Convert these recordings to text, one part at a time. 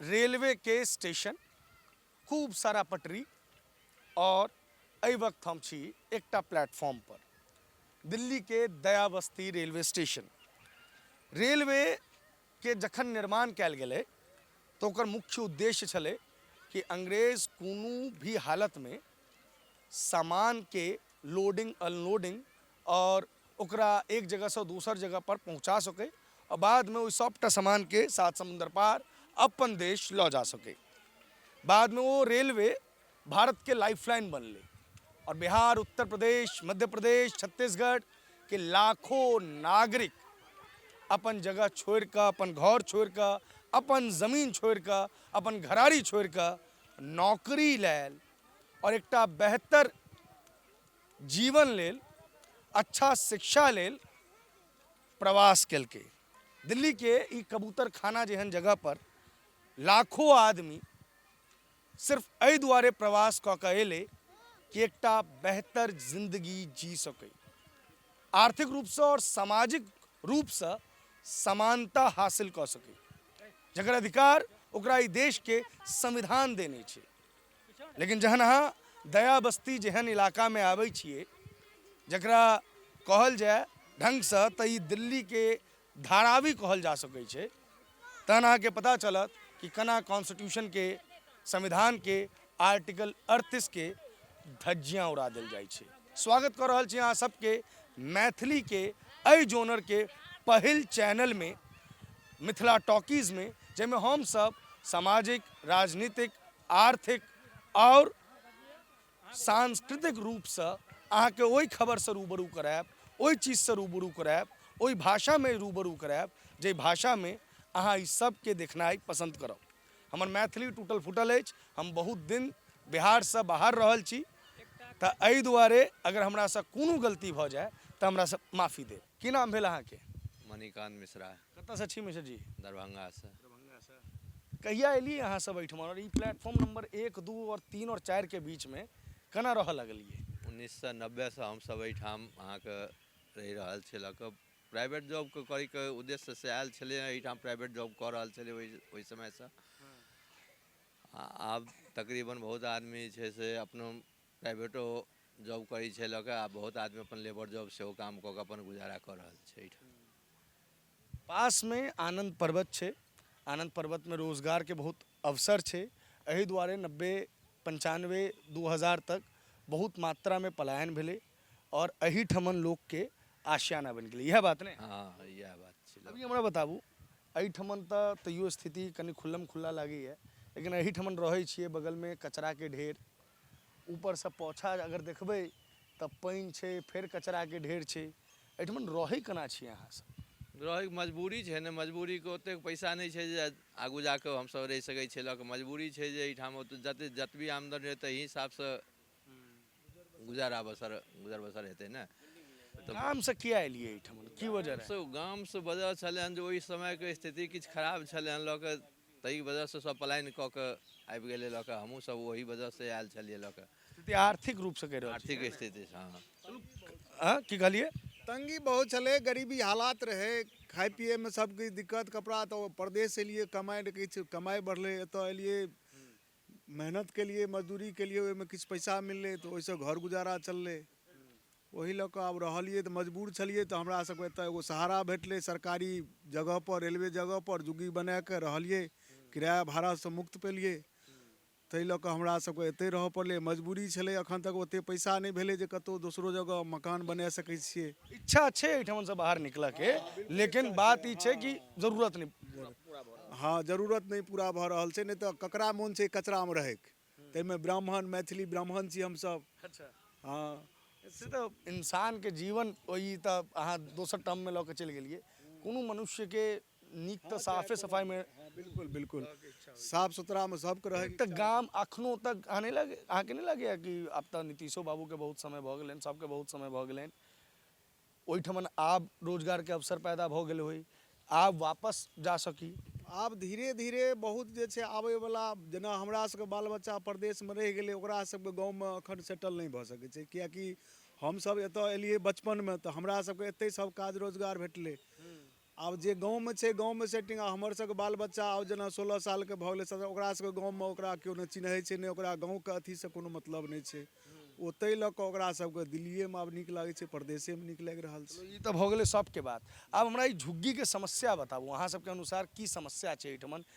Railway के station खूब सारा पटरी और एहि वक्त हम छी एकटा प्लेटफॉर्म पर दिल्ली के दयाबस्ती रेलवे स्टेशन रेलवे के जखन निर्माण कयल गेलै तऽ ओकर मुख्य उद्देश्य छलै कि अंग्रेज कोनो भी हालत में सामान के लोडिंग अनलोडिंग आओर ओकरा एक जगहसँ दोसर जगहपर पहुँचा सकै आओर बादमे ओहि सबटा सामानके सात समुन्दर पार अपन देश लऽ जा सकै बादमे ओ रेलवे भारतके लाइफ लाइन बनलै आओर बिहार उत्तर प्रदेश मध्य प्रदेश छत्तीसगढ़के लाखो नागरिक अपन जगह छोड़ि कऽ अपन घर छोड़ि कऽ अपन जमीन छोड़ि कऽ अपन घराड़ी छोड़ि कऽ नौकरी लेल आओर एकटा बेहतर जीवन लेल अच्छा शिक्षा लेल प्रवास केलकै दिल्लीके ई कबूतर खाना जेहन जगह पर लाखो आदमी सिर्फ एहि दुआरे प्रवास कऽ कऽ एलै कि एकटा बेहतर जिंदगी जी सकै आर्थिक रूपसँ आओर सामाजिक रूपसँ समानता हासिल कऽ सकै जकर अधिकार ओकरा ई देशके संविधान देने छै लेकिन जहन अहाँ दया बस्ती जेहन इलाकामे आबै छियै जकरा कहल जाय ढङ्गसँ तऽ ई दिल्लीके धारावी कहल जा सकै छै तहन अहाँके पता चलत कि केना कॉन्स्टिट्यूशनके संविधानके आर्टिकल अड़तीसके धज्जियाँ उड़ा देल जाइ छै स्वागत कऽ रहल छी अहाँ सबके मैथिलीके एहि जोनरके पहिल चैनलमे मिथिला टॉकीजमे जाहिमे हमसब सामाजिक राजनीतिक आर्थिक आओर सांस्कृतिक रूपसँ अहाँके ओहि खबरसँ रूबरू करायब ओहि चीजसँ रूबरू करायब ओहि भाषामे रूबरू करायब जाहि भाषामे अहाँ ई सभके देखनाइ पसन्द करब हमर मैथिली टूटल फूटल अछि हम बहुत दिन बिहारसँ बाहर रहल छी तऽ एहि दुआरे अगर हमरासँ कोनो गलती भऽ जाय तऽ हमरासँ माफी देब की नाम भेल अहाँके मणिकान्त मिश्रा कतऽसँ छी मिश्र जी दरभङ्गासँ दरभङ्गासँ कहिया एलियै अहाँ सब एहिठाम आओर ई प्लेटफॉर्म नम्बर एक दू आओर तीन आओर चारिके बीचमे केना रहऽ लगलियै उन्नैस सए नब्बेसँ हमसभ एहिठाम अहाँके रहि रहल छी लऽ कऽ प्राइवेट जॉबके करैके उद्देश्य से आयल छलै एहिठाम प्राइवेट जॉब कऽ रहल छलै ओहि ओहि समयसँ आ आब तकरीबन बहुत आदमी जे छै से अपनो प्राइवेटो जॉब करैत छै लऽ कऽ आ बहुत आदमी अपन लेबर जॉब सेहो काम कऽ कऽ अपन गुजारा कऽ रहल छै एहिठाम पासमे आनन्द पर्वत छै आनन्द पर्वतमे रोजगारके बहुत अवसर छै एहि दुआरे नब्बे पञ्चानबे दू हजार तक बहुत मात्रामे पलायन भेलै आओर एहिठमन लोकके आशियाना बनि गेलै इएह बात ने हँ इएह बात छै अभी हमरा बताबू एहिठमन तऽ तैयो स्थिति कनि खुल्लम खुल्ला लागैए लेकिन एहिठमन रहै छियै बगलमे कचराके ढेर ऊपर सँ पौछा अगर देखबै तऽ पानि छै फेर कचरा के ढेर छै एहिठमा रहै केना छी अहाँ सब रहै के मजबूरी छै ने मजबूरी के ओतेक पैसा नहि छै जे आगू जा कऽ हम सब रहि सकै छियै लऽ कऽ मजबूरी छै जे एहिठाम जते जतबी आमदनी रहै ताहि हिसाब सँ गुजारा बसर गुजर बसर हेतै ने गाम सँ किया एलियै एहिठमा की वजह रहै गाम सँ वजह छलै हन जे ओहि समय के स्थिति किछु खराब छलै हन लऽ कऽ ताहि वजहसँ सभ पलायन कऽ कऽ आबि गेलै लऽ कऽ हमहूँ सभ ओहि वजहसँ आयल छलियै लऽ कऽ स्थिति आर्थिक रूपसँ कहि रहल आर्थिक स्थिति हँ हँ की कहलियै तंगी बहुत छलै गरीबी हालात रहै खाइ पियैमे सभकिछु दिक्कत कपड़ा तऽ परदेश एलियै कमाइ किछु कमाइ बढ़लै एतय एलियै मेहनत केलिए मजदूरी केलिए ओहिमे किछु पइसा मिललै तऽ ओहिसँ घर गुजारा चललै ओहि लऽ कऽ आब रहलिए तऽ मजबूर छलिए तऽ हमरासभके एतऽ एगो सहारा भेटलै सरकारी जगहपर रेलवे जगहपर जुग्गी बनाकऽ रहलिए किराआ भाड़ासँ मुक्त पेलिए ताहि लऽ कऽ हमरासभके एतहि रहऽ पड़लै मजबूरी छलै एखन तक ओतेक पइसा नहि भेलै जे कतहु दोसरो जगह मकान बना सकै छिए इच्छा छै एहिठामसँ बाहर निकलऽके लेकिन बात ई छै कि जरूरत नहि हँ जरूरत नहि पूरा भऽ रहल छै नहि तऽ ककरा मोन छै कचरामे रहैके ताहिमे ब्राह्मण मैथिली ब्राह्मण छी हमसभ अच्छा हँ से तऽ इंसानके जीवन ओहि तऽ अहाँ दोसर टर्ममे लऽ कऽ चलि गेलियै कोनो मनुष्यके नीक तऽ साफे सफाइमे हँ बिल्कुल बिल्कुल साफ सुथरामे सभके रहै तऽ गाम अखनो तक अहाँ नहि लगे अहाँके नहि लगैए कि आब तऽ नीतीशो बाबूके बहुत समय भऽ गेलनि सभके बहुत समय भऽ गेलनि ओहिठमन आब रोजगार के अवसर पैदा भऽ गेल होइ। आब वापस जा सकी। आब धीरे धीरे बहुत जे छै आबय बला जेना हमरा सबके बाल बच्चा प्रदेश मे रहि गेलै ओकरा सबके गाँव मे अखन सेटल नहि भऽ सकै छै कियाकि हमसब एतऽ एलियै बचपन मे तऽ हमरा सबके एतै सब काज रोजगार भेटलै। आब जे गाँवमे छै गाँवमे सेटिंग आ हमर सबके बाल बच्चा आब जेना सोलह सालके भऽ गेलै सत्रह ओकरा सबके गाँवमे ओकरा केओ नहि चिन्है छै नहि ओकरा गाँवके अथीसँ कोनो मतलब नहि छै ओ तै लऽ कऽ ओकरा सबके दिल्लीयेमे आब नीक लागै छै परदेशेमे नीक लागि रहल छै ई तऽ भऽ गेलै सबके बात आब हमरा ई झुग्गीके समस्या बताबू अहाँ सबके अनुसार की समस्या छै अइठमन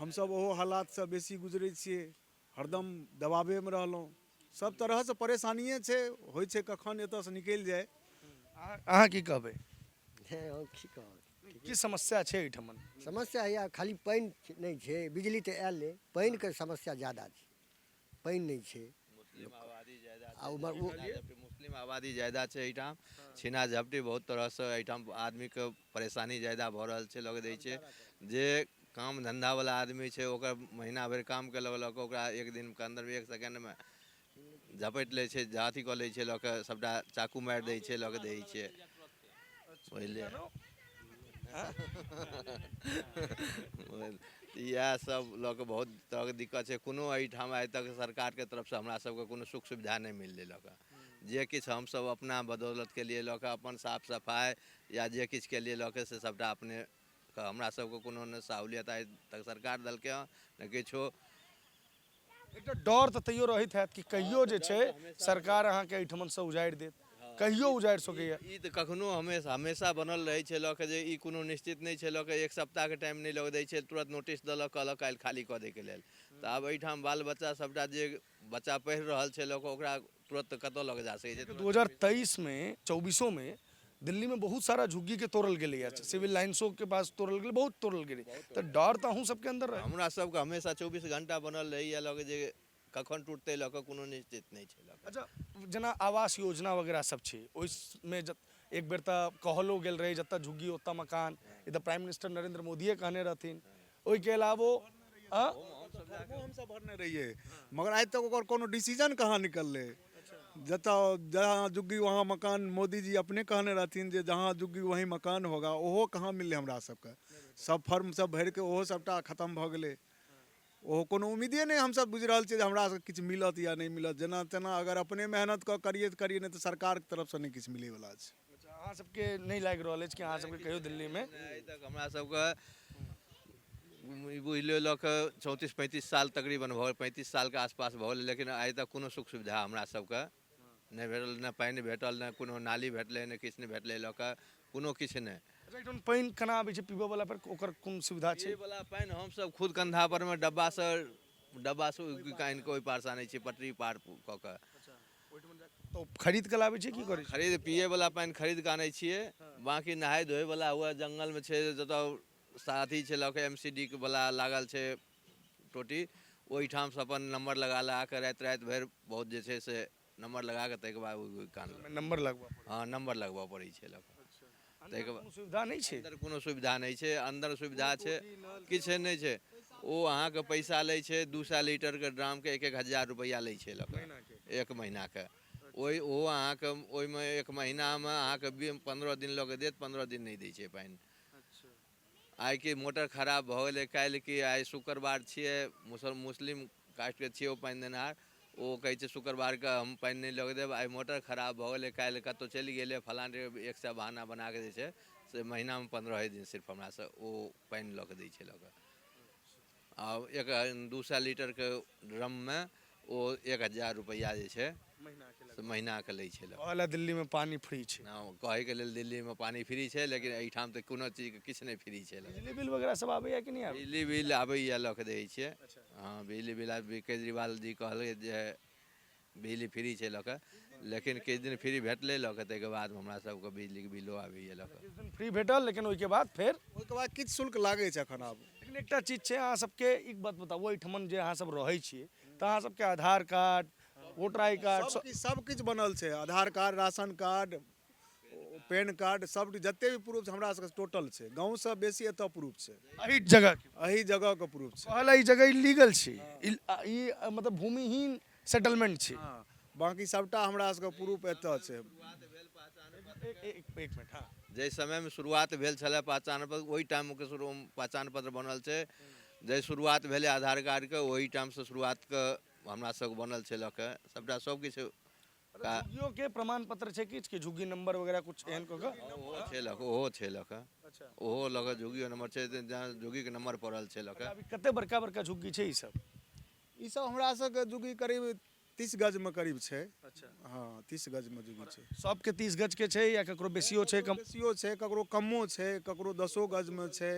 हमसभ ओहो हालातसँ बेसी गुजरै छियै हरदम दबावेमे रहलहुँ सभ तरहसँ परेशानिए छै होइ छै कखन एतयसँ निकलि जाय अहाँ अहाँ की कहबै हे हम की कहब की समस्या छै एहिठाम समस्या हैया खाली पानि नहि छै बिजली तऽ आयले पानिके समस्या ज्यादा छै पानि नहि छै मुस्लिम आबादी ज्यादा आ छै उमहर ओ- छीना झपटी मुस्लिम आबादी ज्यादा छै एहिठाम छीना झपटी बहुत तरहसँ एहिठाम आदमीके परेशानी ज्यादा भऽ रहल छै लगै दै छै जे काम धन्धावला आदमी छै ओकर महीना भरि काम केलक लऽ कऽ ओकरा एक दिनके अन्दरमे एक सेकेण्डमे झपटि लै छै अथी कऽ लै छै लऽ कऽ सभटा चाकू मारि दै छै लऽ कऽ दै छै बुझलियै इएह सब लऽ कऽ बहुत तरहके दिक्कत छै कोनो एहिठाम आइ तक सरकारके तरफसँ हमरा सबके कोनो सुख सुविधा नहि मिललै लऽ कऽ जे किछु हमसब अपना बदौलत कयलियै लऽ कऽ अपन साफ सफाइ या जे किछु कयलियै लऽ कऽ से सबटा अपने कऽ हमरा सबके कोनो ने सहूलियत आइ तक सरकार देलकै हँ ने किछु एकटा डर तऽ तैयो रहैत हैत कि कहियो जे छै सरकार अहाँके एहिठमनसँ उजाड़ि देत कहियो उजाड़ि सकैए ई तऽ कखनो हमेशा हमेशा बनल रहै छै लऽ कऽ जे ई कोनो निश्चित नहि छै लऽ कऽ एक सप्ताहके टाइम नहि लऽ कऽ दै छै तुरन्त नोटिस देलक कहलक काल्हि खाली कऽ दैके लेल तऽ आब एहिठाम बाल बच्चा सभटा जे बच्चा पढ़ि रहल छै लऽ कऽ ओकरा तुरंत कतौ लग जा सके छै 2023 में 24 में दिल्ली में बहुत सारा झुग्गी के तोड़ल गेले या सिविल लाइन्सो के पास तोड़ल गेले बहुत तोड़ल गेले तो डर तो अहूँ सबके अंदर रहे हमरा सबके हमेशा 24 घंटा बनल रही या लगे जे कखन टूटते लऽ कऽ कोनो निश्चित नहि छै लऽ कऽ। अच्छा जेना आवास योजना वगैरह सब छै ओहिमे जत एक बेर तऽ कहलो गेल रहै जतऽ झुग्गी ओतऽ मकान ई तऽ प्राइम मिनिस्टर नरेंद्र मोदिये कहने रहथिन ओहिके अलावो आँ? फॉर्मो हमसभ भरने रहियै मगर आइ तक ओकर कोनो डिसीजन कहाँ निकललै जतऽ जहाँ जुग्गी वहाँ मकान मोदीजी अपने कहने रहथिन जे जहाँ जुग्गी वहीं मकान होगा ओहो कहाँ मिललै हमरा सभके सभ फॉर्म सभ भरिके ओहो सभटा खतम भऽ गेलै ओहो कोनो उम्मीदे नहि हमसभ बुझि रहल छियै जे हमरा सभके किछु मिलत या नहि मिलत जेना तेना अगर अपने मेहनत कऽ करियै तऽ करियै नहि तऽ सरकारके तरफसँ नहि किछु मिलैवला छै अच्छा अहाँ सबके नहि लागि रहल अछि कि अहाँ सबके कहियो दिल्लीमे आइ तक हमरा सबके ई बुझि लियौ लऽ कऽ चौंतीस पैंतीस साल तकरीबन भऽ गेल पैंतीस सालके आसपास भऽ गेलै लेकिन आइ तक कोनो सुख सुविधा हमरा सबके नहि भेटल ने पानि भेटल ने कोनो नाली भेटलै ने किछु नहि भेटलै लऽ कऽ कोनो किछु नहि अच्छा एहिठाम पानि केना आबै छै पीबऽ वाला पर ओकर कोन सुविधा छै पीबैवला पानि हमसब खुद कन्धा परमे डब्बासँ डब्बासँ उघि कऽ आनि कऽ ओहि पारसँ आनै छियै पटरी पार कऽ कऽ तो खरीद के लाबे छियै की करे खरीद पिए वाला पानी खरीद के आनै छियै बाकी नहाय धोए वाला हुआ जंगल में छै जत साथी छै लके एमसीडी के वाला लागल छै टोटी ओहि ठाम से अपन नंबर लगा लगा के रात रात भर बहुत जे छै से नंबर लगा के तक बाद कान नंबर लगबा हां नंबर लगबा पड़े छै लक ताहिके बाद कोनो सुविधा नहि छै अन्दर कोनो सुविधा नहि छै अन्दर सुविधा छै किछु नहि छै ओ अहाँके पैसा लै छै दू सए लीटरके ड्रामके एक एक हजार रुपैआ लै छै लऽ कऽ एक महीनाके ओहि ओ अहाँके ओहिमे एक महीनामे अहाँके बी पन्द्रह दिन लऽ कऽ देत पन्द्रह दिन नहि दै छै पानि आइ की मोटर खराब भऽ गेलै काल्हि की आइ शुक्रवार छियै मुसल मुस्लिम कास्टके छियै ओ पानि देनिहार ओ कहै छै शुक्रवारके हम पानि नहि लऽ देब आइ मोटर खराब भऽ गेलै काल्हि कतहु चलि गेलै फलाँ जगह एक सए बहाना बना कऽ जे छै से महीनामे पन्द्रहे दिन सिर्फ हमरासँ ओ पानि लऽ कऽ दै छै लऽ कऽ आब एक दू सए लीटरके ड्रममे ओ एक हजार रुपैआ जे छै से महीनाके लै छै कहै लए दिल्लीमे पानि फ्री छै हँ कहैके लेल दिल्लीमे पानि फ्री छै लेकिन एहिठाम तऽ कोनो चीजके किछु नहि फ्री छै बिजली बिल वगैरह सब आबैया कि नहि आबैया बिजली बिल आबैए लऽ कऽ दै छियै हँ बिजली बिल आब केजरीवाल जी कहलकै जे बिजली फ्री छै लऽ कऽ लेकिन किछु दिन फ्री भेटलै लऽ कऽ ताहिके बाद हमरा सबके बिजलीके बिलो आबैए लऽ कऽ किछु दिन फ्री भेटल लेकिन ओहिके बाद फेर ओहिके बाद किछु शुल्क लागै छै एखन आब लेकिन एकटा चीज छै अहाँ सबके ई बात बताबू एहिठमन जे अहाँ सब रहै छी तऽ अहाँ सबके Aadhaar card voter I card सब- सबकिछु सबकिछु बनल छै Aadhaar card ration card PAN card सब जते भी प्रूफ छै हमरा सबके टोटल छै गाँवसँ बेसी एतऽ प्रूफ छै एहि जगह के एहि जगहके प्रूफ छै कहला ई जगह इलीगल छी इल- आ- ई अ, मतलब भूमिहीन सेटलमेंट छी हँ बाँकी सभटा हमरा सबके प्रूफ एतऽ छै जाहि समयमे शुरुआत भेल छलै पहचान पत्र ओहि टाइमके शुरू पहचान पत्र बनल छै जाहि शुरुआत भेलै आधार कार्डके ओहि टाइमसँ शुरुआतके हमरा सबके बनल छै लऽ कऽ सभटा सबकिछु झुग्गियो के प्रमाण पत्र छै किछु कि झुग्गी नंबर वगैरह कुछ एहन कऽ कऽ ओहो छै लऽ कऽ ओहो छै लऽ कऽ अच्छा ओहो लऽ कऽ झुग्गियो नंबर छै जहाँ झुग्गीके नंबर पड़ल छै लऽ कऽ अभी कते बड़का बड़का झुग्गी छै ई सब ई सब हमरा सबके जुगी करीब तीस गजमे करीब छै अच्छा हँ तीस गजमे जुगी छै सबके तीस गजके छै या ककरो बेसियो छै कम बेसियो छै ककरो कमो छै ककरो दसो गजमे छै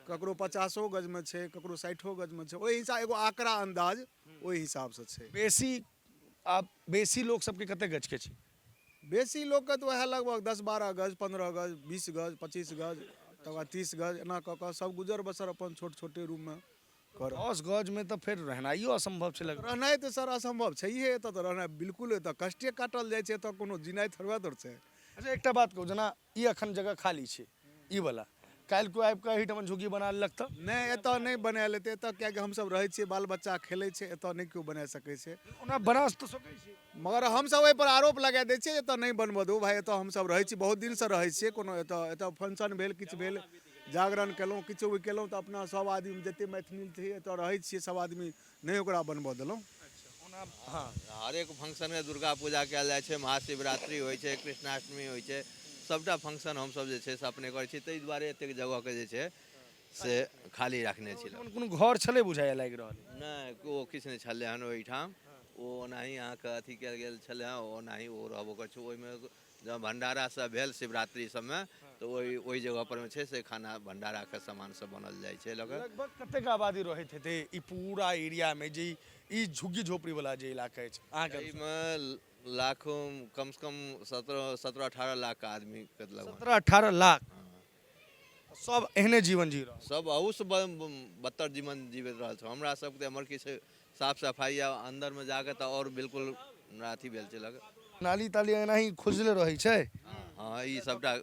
ककरो पचासो गजमे छै ककरो साठिओ गजमे छै ओहि हिसाब एगो आकड़ा अन्दाज ओहि हिसाबसँ छै बेसी आब बेसी लोक सबके कते गजके छै बेसी लोकके तऽ वएह लगभग दस बारह गज पन्द्रह गज बीस गज पच्चीस गज तकर बाद तीस गज एना कऽ कऽ सब गुजर बसर अपन छोट छोटे रूममे कर दस गजमे तऽ फेर रहनाइयो असम्भव छै लगभग रहनाइ तऽ सर असम्भव छैहे एतऽ तऽ रहनाइ बिल्कुल एतऽ कष्टे काटल जाइ छै एतऽ कोनो जिनाइ थोड़बे दर छै अच्छा एकटा बात कहू जेना ई एखन जगह खाली छै ई वाला काल्हि कोइ आबि कऽ एहिठाम झुग्गी बना लेलक तऽ नहि एतऽ नहि बनायल हेतै एतऽ किएकि हमसभ रहै छियै बाल बच्चा खेलै छै एतऽ नहि केओ बना सकै छै ओना बना तऽ सकै छै मगर हमसभ एहिपर आरोप लगा दै छियै एतय नहि बनबऽ दू भाय एतय हमसभ रहै छी बहुत दिनसँ रहै छियै कोनो एतय एतय फंक्शन भेल किछु भेल जागरण केलहुँ किछु भी केलहुँ तऽ अपना सभ आदमी जतेक मैथिली छी एतय रहै छियै सभ आदमी नहि ओकरा बनबऽ देलहुँ हँ हरेक फंक्शनमे दुर्गा पूजा कयल जाइ छै महाशिवरात्रि होइ छै कृष्णाष्टमी होइ छै सभटा फंक्शन हमसभ जे छै से अपने करै छी ताहि दुआरे एतेक जगहके जे छै से खाली रखने छी ओहिठाम कोनो घर छलै बुझाइए लागि रहल अइ। नहि ओ किछु नहि छलै हन ओहिठाम ओ ओनाही अहाँके अथी कयल गेल छलै हँ ओनाही ओ रहबो करै छै ओहिमे जँ भंडारा सब भेल शिवरात्रि सबमे तऽ ओहि ओहि जगह परमे छै से खाना भंडाराके सामान सब बनल जाइ छै लऽ कऽ लगभग कतेक आबादी रहैत हेतै ई पूरा एरियामे जे ई- ई झुग्गी झोपड़ीवला जे इलाका अछि अहाँके अनुसार? एहिमे लाखो कमसँ कम सत्रह सत्रह अठारह लाख आदमीके लगभग सत्रह अठारह लाख सब एहने जीवन जी रहल सब अहूसँ बदतर जीवन जीवैत रहल छौँ हमरा सबके हमर किछु साफ सफाइ या अन्दरमे जाके तऽ आओर बिल्कुल हमरा अथी भेल छै लग नाली ताली एनाही खुजले रहै छै हँ ई सबटा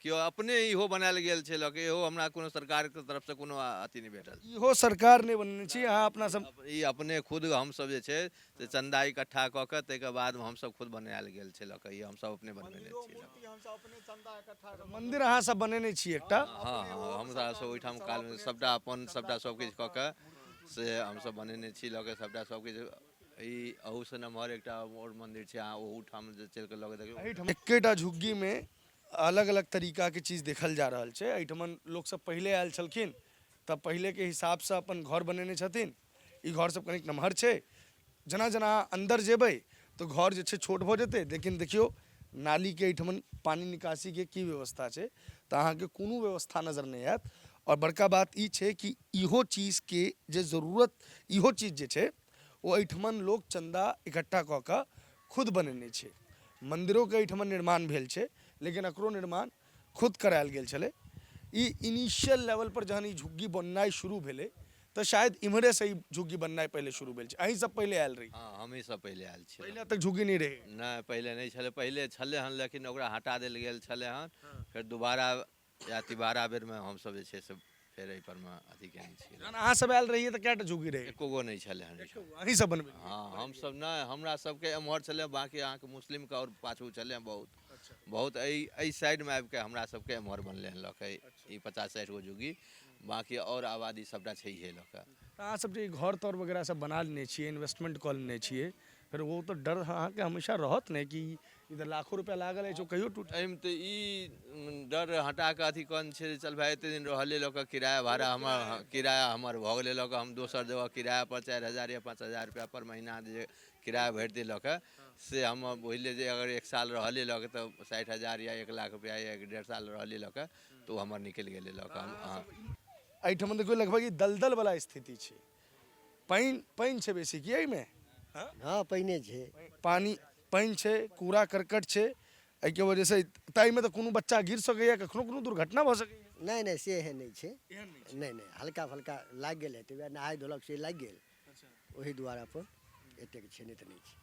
केओ अपने इहो बनायल गेल छै लऽ के इहो हमरा कोनो सरकारके तरफसँ कोनो अथी नहि भेटल इहो सरकार नहि बनेने छी अहाँ अपना सब ई अपने खुद हमसब जे छै से चन्दा इकट्ठा कऽ के ताहिके बाद हमसभ खुद बनायल गेल छै लऽ कऽ ई हमसभ अपने बनबेने मन्दिरो छी मूर्ति हमसभ अपने चन्दा इकट्ठा कऽ मन्दिर अहाँ सब बनेने छी एकटा हँ हँ हमरा सभ ओहिठाम कालमे सभटा अपन सभटा सभकिछु कऽ के से हमसभ बनेने छी लऽ के सभटा सभकिछु ई अहूसँ नमहर एकटा आओर मन्दिर छै अहाँ ओहूठाम जे चलि कऽ लऽ के देखियौ एहिठाम एकेटा झुग्गीमे अलग अलग तरीकाके चीज देखल जा रहल छै एहिठमन लोकसभ पहिले आयल छलखिन तऽ पहिलेके हिसाबसँ अपन घर बनेने छथिन ई घर सब कनिक नमहर छै जेना जेना अहाँ अन्दर जेबै तऽ घर जे छै छोट भऽ जेतै लेकिन देखियौ नालीके एहिठमन पानि निकासीके की व्यवस्था छै तऽ अहाँके कोनो व्यवस्था नजर नहि आयत आओर बड़का बात ई छै कि इहो चीजके जे जरूरत इहो चीज जे छै ओ एहिठमन लोक चन्दा इकट्ठा कऽ कऽ खुद बनेने छै मन्दिरोके एहिठमन निर्माण भेल छै लेकिन एकरो निर्माण खुद करायल गेल छलै। ई इनिशियल लेवल पर जहन ई झुग्गी बननाइ शुरू भेलै त शायद इम्हरे स ई झुग्गी बननाइ पहिले शुरू भेल छै। अहीं सब पहिले आयल रही। हँ हमहीं सब पहिले आयल छी। पहिले एतय झुग्गी नहि रहै। नहि पहिले नहि छलै। पहिले छलै हन लेकिन ओकरा हटा देल गेल छलै हन। फेर दुबारा या तिबारा बेर मे हम सब जे छै से फेर एहि परमे अथी केने छियै जहन अहाँ सब आयल रहियै तऽ कएटा झुग्गी रहै एको गो नहि छलै हन एहिठाम। अहीं सब बनबै हँ हमसभ नहि हमरा सभके एम्हर छलै बाँकी अहाँके मुस्लिमके आओर पाछू छलै बहुत बहुत एहि एहि साइडमे आबि कऽ हमरा सभके एम्हर बनलै हन लऽ कऽ ई पचास साठि गो जुगी बाँकी आओर आबादी सभटा छैहे लऽ कऽ तऽ अहाँ सब जे ई घर तर वगैरह सब बना लेने छियै इन्वेस्टमेंट कऽ लेने छियै फेर ओ तऽ डर अहाँके हमेशा रहत ने कि ई तऽ लाखो रुपैआ लागल अछि ओ कहियो टूट एहिमे तऽ ई डर हटा कऽ अथी कऽ छै जे चल भाय एतेक दिन रहले लऽ कऽ किराया भाड़ा हमर किराया हमर भऽ गेलै लऽ कऽ हम दोसर जगह किरायापर चारि हजार या पाँच हजार रुपैआपर महीना जे किराया भरि दै लऽ कऽ से हम बुझि लिअ जे अगर एक साल रहलियै लऽ कऽ तऽ साठि हजार या एक लाख रुपैआ या एक डेढ़ साल रहलियै लऽ कऽ तऽ ओ हमर निकलि गेलै लऽ कऽ हम अहाँ एहिठमन देखियौ लगभग ई दलदलवला स्थिति छै पानि पानि छै बेसी की एहिमे हँ पानिए छै पानि पानि छै कूड़ा करकट छै एहिके वजहसँ ताहिमे तऽ कोनो बच्चा गिर सकैए कखनो कोनो दुर्घटना भऽ सकैए नहि नहि से एहन नहि छै एहन नहि छै नहि नहि हल्का फल्का लागि गेल हेतै वएह नहाय धोलक से लागि गेल अच्छा ओही दुआरे अपन एतेक छै नहि तऽ नहि छै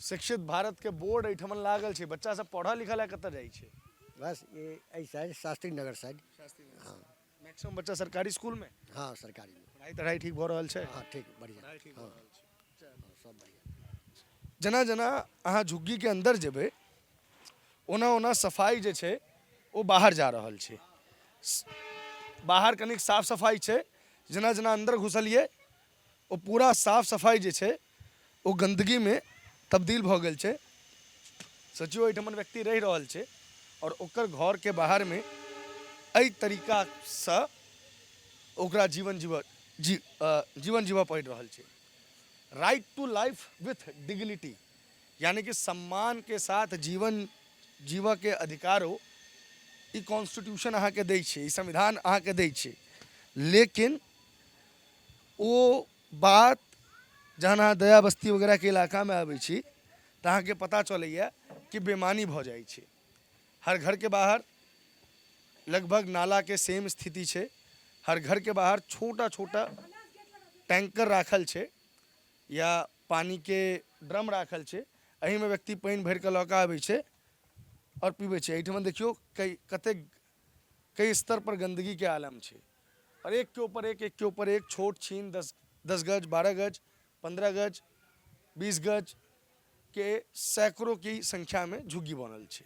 शिक्षित भारतके बोर्ड एहिठाम लागल छै बच्चा सब पढ़ऽ लिखऽ लए कतऽ जाइ छै बस ए- एहि साइड शास्त्री नगर साइड शास्त्री हँ मैक्सिमम बच्चा सरकारी स्कूल में हाँ सरकारी में पढ़ाई तढ़ाई ठीक भऽ रहल छै हाँ ठीक बढ़िया पढ़ाई ठीक भऽ रहल छै हाँ, सब बढ़िया जेना जेना अहाँ झुग्गीके अन्दर जेबै ओना ओना सफाइ जे छै ओ बाहर जा रहल छै स- बाहर कनिक साफ सफाइ छै जेना जेना अन्दर घुसलियै ओ पूरा साफ सफाइ जे छै ओ गन्दगीमे तब्दील भऽ गेल छै सोचियौ एहिठमन व्यक्ति रहि रहल छै आओर ओकर घरके बाहरमे एहि तरीकासँ ओकरा जीवन जीवऽ जी जीवन जीवऽ पड़ि रहल छै right to life with dignity यानी कि सम्मानके साथ जीवन जीवऽके अधिकारो ई कॉन्स्टिट्यूशन अहाँके दै छै ई संविधान अहाँके दै छै लेकिन ओ बात जहन अहाँ दया बस्ती वगैरहके इलाकामे आबै छी तऽ अहाँके पता चलैए कि बेमानी भऽ जाइ छै हर घरके बाहर लगभग नालाके सेम स्थिति छै हर घरके बाहर छोटा छोटा टैंकर राखल छै या पानिके ड्रम राखल छै एहिमे व्यक्ति पानि भरि कऽ लऽ कऽ आबै छै आओर पीबै छै एहिठमन देखियौ कतेक कई स्तर पर गंदगी के आलम छै और एक के ऊपर एक एक के ऊपर एक छोट छीन दस दस गज बारह गज पंद्रह गज बीस गज के सैकड़ों की संख्या में झुग्गी बनल छै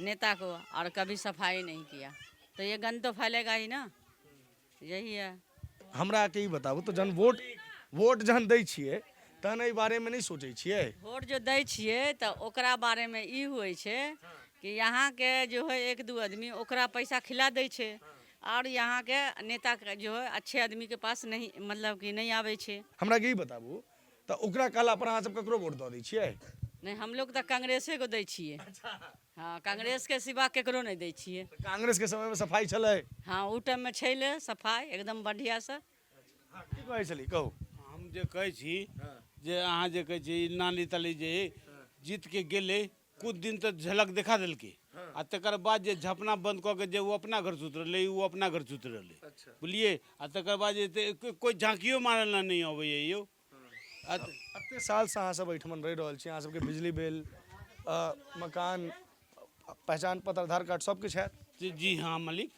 नेता को और कभी सफाई नहीं किया तो ये गंद तो फैलेगा ही ना यही है हमरा के ई बताबू तो जहन वोट वोट जहन दै छियै तहन एहि बारे में नहीं सोचे छियै वोट जो दै छियै तऽ ओकरा बारेमे ई होइ छै कि यहाँके जो है एक दू आदमी ओकरा पैसा खिला दै छै आओर यहाँके नेता जो है अच्छे आदमीके पास नहीं मतलब कि नहीं आबै छै हमरा के ई बताबू तऽ ओकरा कहला पर अहाँ सब ककरो वोट दऽ दै छियै नहि हम लोग तऽ कांग्रेसे को दै छियै अच्छा हँ कांग्रेस के सिवा केकरो नहि दै छियै कांग्रेस के समय में सफाई छलै हँ ओ टाइम में छलै सफाई एकदम बढ़िया से हँ, की कहै छली कहू हम जे कहै छी जे अहाँ जे कहै छी ई नाली ताली जे जीत के गेलै किछु दिन तऽ झलक देखा देलकै आ तकर बाद जे झपना बन्द कऽ के जे ओ अपना घर सुति रहलै ओ अपना घर सुति रहलै बुझलियै आ तकर बाद जे एते- कोइ झाँकियो मारल लए नहि अबैए यौ आ त- एते सालसँ अहाँ सब एहिठमन रहि रहल छी अहाँ सबके बिजली बिल अ, मकान अ, पहचान पत्र आधार कार्ड सब किछु हैत जी- जी हाँ मालिक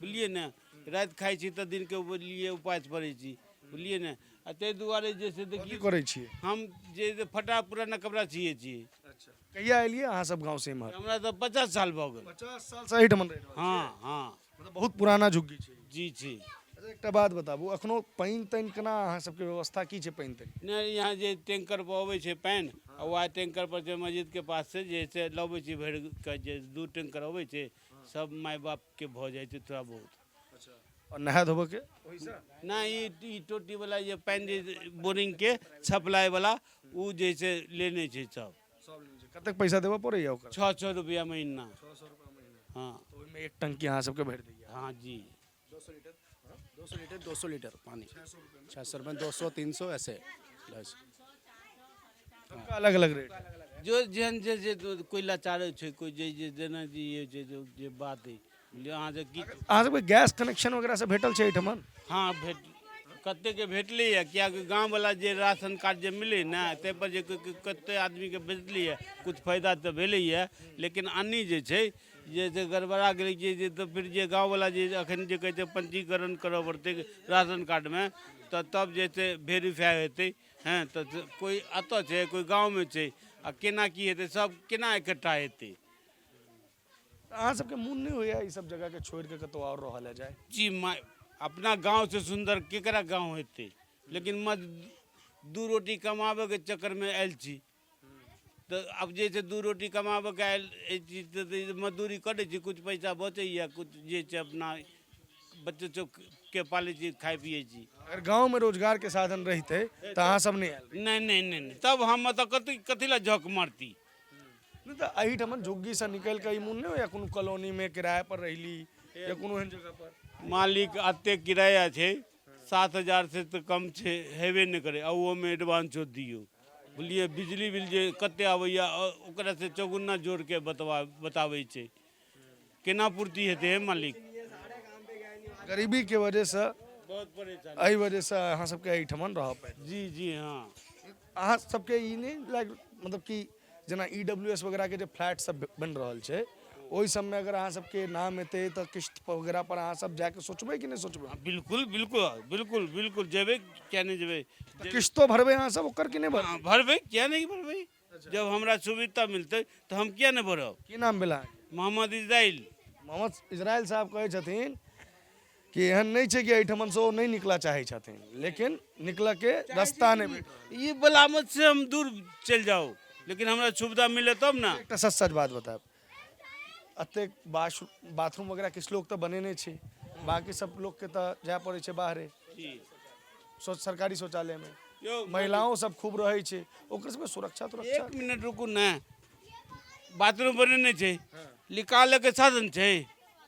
बुझलियै ने राति खाइ छी तऽ दिनके लिए उपास पड़ै छी बुझलियै ने आ ताहि दुआरे जे छै से की देखियौ करै छियै हम जे जे फटा पुराना कपड़ा सियै छी कहिया एलियै अहाँ सब गाँव से इम्हर हमरा तऽ पचास साल भऽ गेल पचास साल से एहिठाम रहि रहल हँ हँ मतलब बहुत पुराना झुग्गी छै जी छी अच्छा, एकटा बात बताबू अखनो पानि तानि केना अहाँ सबके व्यवस्था की छै पानि तानि नहि यहाँ जे टैंकर पर अबै छै पानि आ वएह टैंकर पर जे मस्जिद के पास से जे छै से लबै छी भरि के जे दू टैंकर अबै छै सब माय बाप के भऽ जाइ छै थोड़ा बहुत अच्छा और नहाय धोबऽ के ओहिसँ ना ई ई टोटी वाला जे पानि जे बोरिंग के सप्लाई वाला उ जैसे लेने छै सब सब लेने छै। कतेक पैसा देबऽ पड़ैए ओकर छः सौ रुपया महीना हाँ ओहिमे एक टंकी अहाँ सबके भरि दैए हाँ जी दो सौ लीटर हाँ? दो सौ लीटर दो सौ लीटर पानी छः सौ रुपये दो सौ तीन सौ ऐसे बस सबका अलग अलग रेट है जो जेहन जे जे कोई लाचार छै कोई जे जे जेना जे ये जे जो जे बात है बुझलियै अहाँ जे की अहाँ सबके गैस कनेक्शन वगैरह से भेटल छै एहिठमन हाँ भेट कते के भेटलै है कियाकि गाँव वाला जे राशन कार्ड जे मिलै ने ताहि पर जे क- क- कते आदमी के भेटलै है कुछ फायदा तऽ भेलै है लेकिन अन्नी जे छै जे से गड़बड़ा गेलै जे जे तऽ फेर जे गाँववला जे एखन जे कहै छै पंजीकरण करऽ पड़तै राशन कार्डमे तऽ तब जे छै वेरीफाई हेतै हँ तऽ जे- कोइ एतऽ छै कोइ गाँवमे छै आ केना की हेतै सब केना इकट्ठा हेतै अहाँ सबके मोन नहि होइया ई सब जगह के छोड़ के कतौ और रहल है जाए जी मा अपना गाँवसँ सुन्दर केकरा गाँव हेतै लेकिन मज दू रोटी कमाबैके चक्करमे आयल छी तऽ आब जे छै दू रोटी कमाबऽके आयल एहि चीज तऽ तऽ ई जे मजदूरी करै छी किछु पैसा बचैए किछु जे छै अपना बच्चो चौकके पालै छी खाइ पिए छी अगर गाँवमे रोजगारके साधन रहितै तऽ अहाँ सब नहि आयल रहितै। नहि नहि नहि नहि तब हम ओतऽ कथी कथी लए झक मारती नहि तऽ एहिठाम झुग्गीसँ निकलि कऽ ई मोन नहि होइए कोनो कॉलोनीमे किरायापर रहली या कोनो एहन जगहपर मालिक एतेक किराया छै सात हजार से तऽ कम छै हेबे नहि करै आ ओहोमे एडवान्सो दियौ बुझलियै बिजली बिल जे कते आबैया अ- ओकरा से चौगुना जोड़ के बतवा बताबै छै केना पूर्ति हेतै हे मालिक गरीबी के वजह से बहुत परेशान एहि वजह से अहाँ सबके एहिठमन रहऽ पड़ि जी जी हाँ अहाँ सबके ई नहि लाग मतलब कि जेना ई डब्ल्यू एस वगैरहके जे फ्लैट सब बनि रहल छै ओहि सबमे अगर अहाँ सबके नाम एतै तऽ किस्त वगैरह पर अहाँ सब जाके सोचबै कि नहि सोचबै हाँ, बिल्कुल बिल्कुल बिल्कुल बिल्कुल जेबे क्या नहीं जेबे तऽ किस्तो भरबै अहाँ सब ओकर कि नहि भरबै हाँ, भरबे क्या नहीं भरबे जब हमरा सुविधा मिलते तो हम क्या नहीं भरब की नाम भेल अहाँके मोहम्मद इजराइल मोहम्मद इजराइल साहब कहै छथिन कि एहन नहि छै कि एहिठमन से ओ नहि निकलऽ चाहै छथिन लेकिन निकलऽ के रास्ता नहि भेट रहल। ई बलामत से हम दूर चलि जाउ लेकिन हमरा सुविधा मिले तब ने एकटा सच सच बात बतायब एतेक बाश बाथरूम वगैरह किछु लोक तऽ बनेने छै बाकी सब लोकके तऽ जाय पड़ै छै बाहरे शौच सरकारी शौचालयमे यौ महिलाओं सब खूब रहै छै ओकर सबके सुरक्षा तुरक्षा एक मिनट रुकू ने बाथरूम बनेने छै निकालैके साधन छै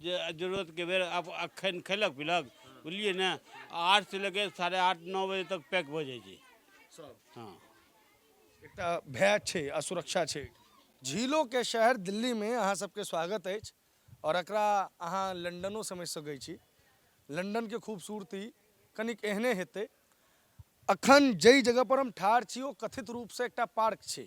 जे जरूरतके बेर आब अखन खैलक पिलक बुझलियै ने आठ से लेके साढ़े आठ नओ बजे तक पैक भऽ जाइ छै सब हँ एकटा भय छै आ सुरक्षा छै झीलो के शहर दिल्ली में अहाँ सबके स्वागत अछि और एकरा अहाँ लंदनो समझ सकै छी लंदन के खूबसूरती कनिक एहने हेतै अखन जाहि जगह पर हम ठाढ़ छी ओ कथित रूप से एकटा पार्क छै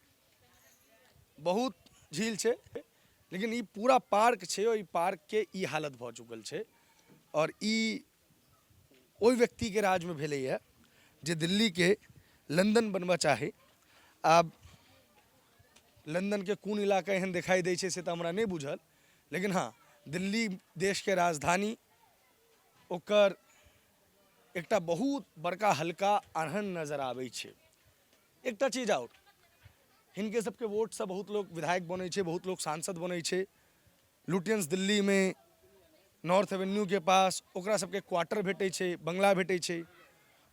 बहुत झील छै लेकिन ई पूरा पार्क छै ओहि पार्कके ई हालत भऽ चुकल छै आओर ई ओहि व्यक्तिके राजमे भेलैए जे दिल्लीके लंदन बनबऽ चाही आब लंदनके कोन इलाका एहन देखाइ दै छै से तऽ हमरा नहि बुझल लेकिन हँ दिल्ली देशके राजधानी ओकर एकटा बहुत बड़का हल्का अहन नजर आबै छै एकटा चीज आओर हिनके सबके वोटसँ बहुत लोक विधायक बनै छै बहुत लोक सांसद बनै छै लुटियंस दिल्लीमे नॉर्थ एवेन्यूके पास ओकरा सबके क्वार्टर भेटै छै बंगला भेटै छै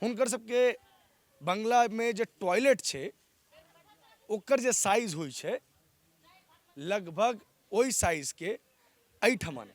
हुनकर सबके बंगलामे जे टॉयलेट छै ओकर जे साइज होइ छै लगभग ओहि साइजके एहिठमन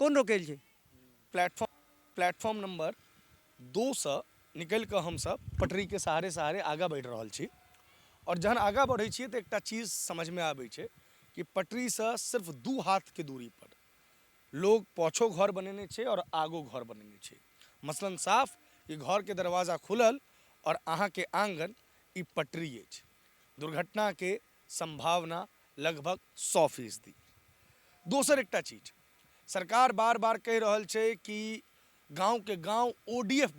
कोन रोकैल छै प्लेटफॉर्म प्लेटफॉर्म नम्बर दोसँ निकलि कऽ हमसभ पटरीके सहारे सहारे आगाँ बढ़ि रहल छी आओर जहन आगाँ बढ़ै छियै तऽ एकटा चीज समझमे आबै छै कि पटरीसँ सिर्फ दू हाथके दूरी पर लोग पाछो घर बनेने छै आओर आगो घर बनेने छै मसलन साफ कि घरके दरवाजा खुलल आओर अहाँके आँगन ई पटरी अछि दुर्घटनाके संभावना लगभग सौ फीसदी। दोसर एकटा चीज, सरकार बार-बार कहि रहल छै कि गांव के गांव ओडीएफ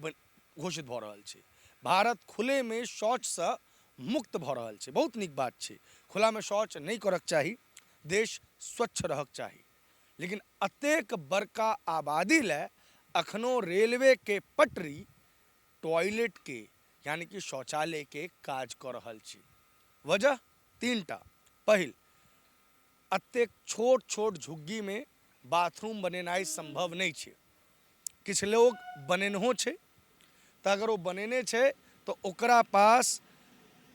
घोषित भऽ रहल छै। भारत खुले मे शौच स मुक्त भऽ रहल छै। बहुत नीक बात छै। खुला मे शौच नहि करक चाही। देश स्वच्छ रहक चाही। लेकिन अतेक बड़का आबादी लए अखनो रेलवे के पटरी टॉयलेट के यानी कि शौचालय के काज कऽ रहल छी वजह तीन टा पहिल अतेक छोट छोट झुग्गी मे बाथरूम बनेनाइ सम्भव नहि छै किछु लोग बनेनहो छै तऽ अगर ओ बनेने छै तऽ ओकरा पास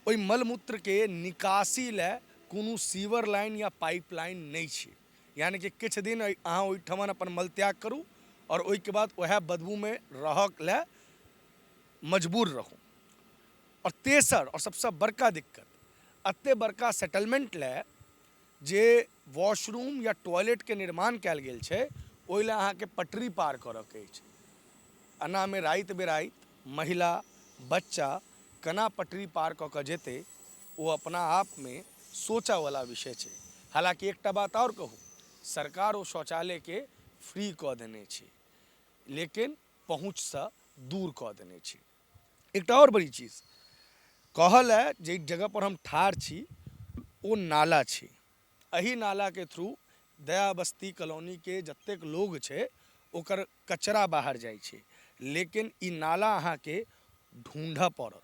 ओहि मलमूत्र के निकासी लए कोनो सीवर लाइन या पाइप लाइन नहि छै यानी कि किछु दिन अहाँ ओहिठमन अपन मलत्याग करू आओर ओहिके बाद उएह बदबूमे रहक लए मजबूर रहू आओर तेसर आओर सभसँ बड़का दिक्कत एते बड़का सेटलमेंट लए जे वॉशरूम या टॉयलेटके निर्माण कयल गेल छै ओहि लए अहाँके पटरी पार करऽके अछि एनामे राति बिराति महिला बच्चा केना पटरी पार कऽ कऽ जेतै ओ अपना आप मे सोचऽ वला विषय छै। हालांकि एकटा बात आओर कहु, सरकार ओ शौचालय के फ्री कऽ देने छै, लेकिन पहुंच सं दूर कऽ देने छै। एकटा आओर बड़ी चीज कहऽ ले जइ जगह पर हम ठाढ़ छी ओ नाला छै। अहि नाला के थ्रू दया बस्ती कॉलोनी के जतेक लोग छै ओकर कचरा बाहर जाइ छै। लेकिन ई नाला अहां के ढूंढऽ पड़त।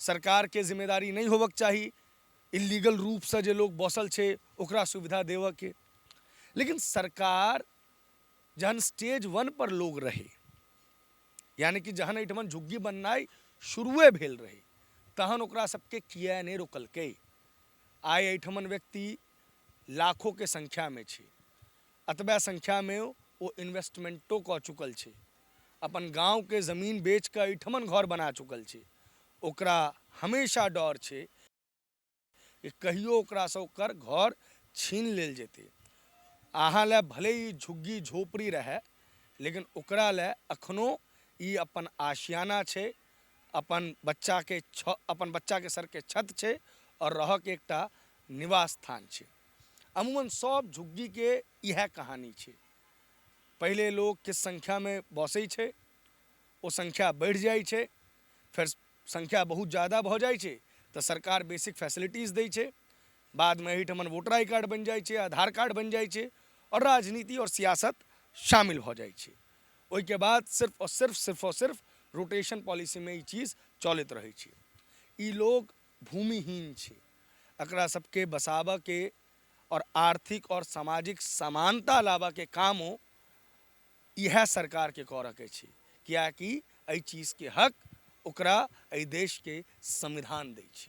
सरकारके जिम्मेदारी नहि होबक चाही इल्लीगल रूपसँ जे लोक बसल छै ओकरा सुविधा देबऽके लेकिन सरकार जहन स्टेज वन पर लोग रहै यानि कि जहन एहिठमन झुग्गी बननाइ शुरुए भेल रहै तहन ओकरा सबके किए नहि रोकलकै आइ एहिठमन व्यक्ति लाखोके संख्यामे छै अतबे संख्यामे ओ इन्वेस्टमेंटो कऽ चुकल छै अपन गाँवके जमीन बेचके एहिठमन घर बना चुकल छै ओकरा हमेशा डर छै कि कहियो ओकरासँ ओकर घर छीन लेल जेतै अहाँ लए भले ई झुग्गी झोपड़ी रहए लेकिन ओकरा लए अखनो ई अपन आशियाना छै अपन बच्चाके छ अपन बच्चाके सरके छत छै आओर रहक एकटा निवास स्थान छै अमूमन सब झुग्गीके इएह कहानी छै पहिले लोक किछु संख्यामे बसै छै ओ संख्या बढ़ि जाइ छै फेर संख्या बहुत जादा भऽ जाइ छै तऽ सरकार बेसिक फेसिलिटीज दै छै बादमे एहिठमन वोटर आइ कार्ड बनि जाइ छै आधार कार्ड बनि जाइ छै आओर राजनीति आओर सियासत शामिल भऽ जाइ छै ओहिके बाद सिर्फ आओर सिर्फ सिर्फ आओर सिर्फ रोटेशन पॉलिसीमे ई चीज चलैत रहै छै ई लोक भूमिहीन छै एकरा सबके बसाबऽके और आर्थिक और सामाजिक समानता लाबऽ के कामो इएह सरकार के करऽ के छै, कियाकि एहि चीज के हक ओकरा एहि देश के संविधान दै छै।